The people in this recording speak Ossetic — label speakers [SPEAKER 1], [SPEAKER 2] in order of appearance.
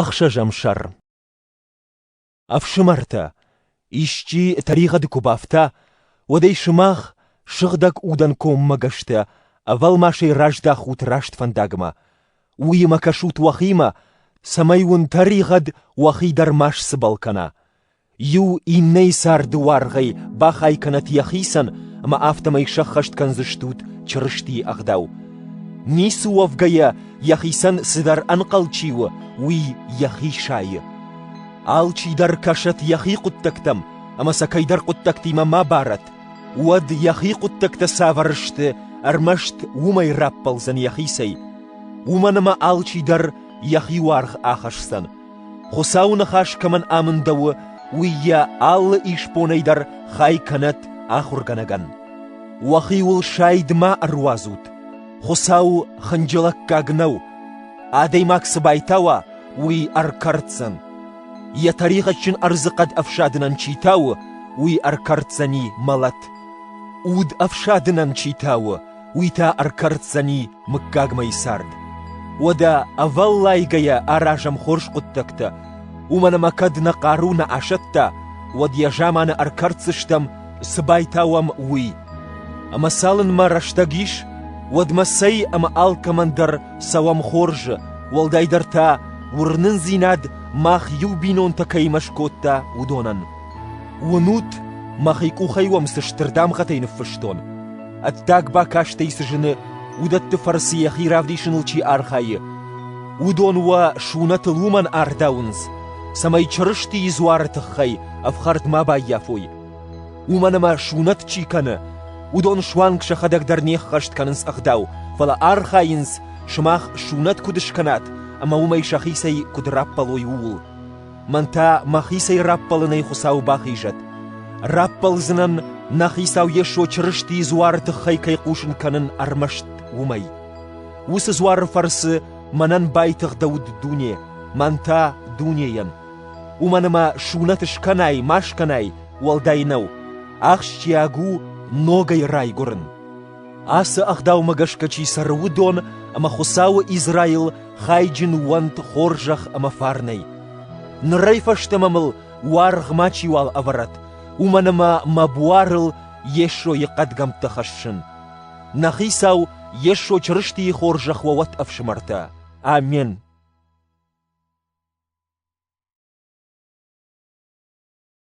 [SPEAKER 1] Ӕхсӕзӕм сӕр Ӕфсымӕртӕ, исчи тӕригъӕды куы бафта, уӕд ӕй сымах, сыгъдӕг удӕн коммӕгӕстӕ, ӕвӕлмасӕй раздахут раст фӕндагмӕ. уыимӕ кӕсут уӕхимӕ, цӕмӕй уын тӕригъӕд уӕхи дӕр ма сцыбӕл кӕна. Иу иннӕйы царды уаргъӕй бахай кӕнӕт йӕхицӕн, ӕмӕ афтӕмӕй сӕххӕст кӕндзыстут Чырыстийы ӕгъдау. Ницы уӕвгӕйӕ, йӕхицӕн цыдӕр ӕнхъӕл чи у, уый йӕхи сайы. Алчи дӕр кӕсӕт йӕхи хъуыддӕгтӕм, ӕмӕ сӕ кӕйдӕр хъуыддӕгтимӕ ма барӕт. Уӕд йӕхи хъуыддӕгтӕ цавӕр сты, ӕрмӕст уымӕй раппӕлдзӕн йӕхицӕй. Уымӕн ӕмӕ алчи дӕр йӕхи уаргъ ахӕсдзӕн. Хуыцауы ныхас кӕмӕн амындӕуы, уый йӕ алы исбонӕй дӕр хай кӕнӕд ахуыргӕнӕгӕн. Уӕхиуыл сайд ма ӕруадзут. Хуыцау хынджылӕггаг нӕу. Адӕймаг цы байтауа, уый ӕркӕрддзӕн. Йӕ тӕригъӕдджын ӕрдзы хъӕд ӕфсадынӕн чи тауы, уый ӕркӕрддзӕни мӕлӕт. Уд ӕфсадынӕн чи тауы, уый та ӕркӕрддзӕни мыггагмӕйы цард. Уӕдӕ ӕвӕллайгӕйӕ аразӕм хорз хъуыддӕгтӕ, уымӕн ӕмӕ кӕд нӕ хъару нӕ асӕтта, уӕд йӕ заманы ӕркӕрддзыстӕм, цы байтауӕм, уый. Ӕмӕ цалынмӕ рӕстӕг ис, уӕдмӕ цӕй ӕмӕ алкӕмӕн дӕр цӕуӕм хорзы, уӕлдайдӕр та уырнындзинад мах иу бинонтӕ кӕимӕ скодта, уыдонӕн. Уынут, мӕхи къухӕй уӕм цы стыр дамгъӕтӕй ныффыстон? Ӕддаг бакастӕй цы зыны, уыдӕтты фӕрцы йӕхи равдисыныл чи архайы, уыдон уӕ сунӕтыл уымӕн ардауынц, цӕмӕй Чырыстийы дзуары тыххӕй ӕфхӕрд ма баййафой. Уымӕн ӕмӕ сунӕт чи кӕны, уыдон суанг сӕхӕдӕг дӕр не ххӕст кӕнынц ӕгъдау, фӕлӕ архайынц, сымах сунӕт куыд скӕнат ӕмӕ уымӕй сӕхицӕй куыд раппӕлой, ууыл. Мӕн та мӕхицӕй раппӕлынӕй Хуыцау бахизӕд. Раппӕлдзынӕн, нӕ Хицау Йесо Чырыстийы дзуары тыххӕй кӕй хъусын кӕнын ӕрмӕст уымӕй. Уыцы дзуары фӕрцы мӕнӕн байтыгъдӕуыд дуне, мӕн та — дунейӕн. Уымӕн ӕмӕ сунӕт скӕнай ма скӕнай, уӕлдай нӕу, ахсджиаг у ногӕй райгуырын. Ацы ӕгъдаумӕ гӕсгӕ чи цӕры, уыдон ӕмӕ Хуыцауы Израил хайджын уӕнт хорзӕх ӕмӕ фарнӕй. Нырӕй фӕстӕмӕ мыл уаргъ мачиуал ӕвӕрӕт, уымӕн ӕмӕ мӕ буарыл Йесойы хъӕдгӕмттӕ хӕссын. Нӕ Хицау Йесо Чырыстийы хорзӕх уӕ уӕд, ӕфсымӕртӕ! Амен.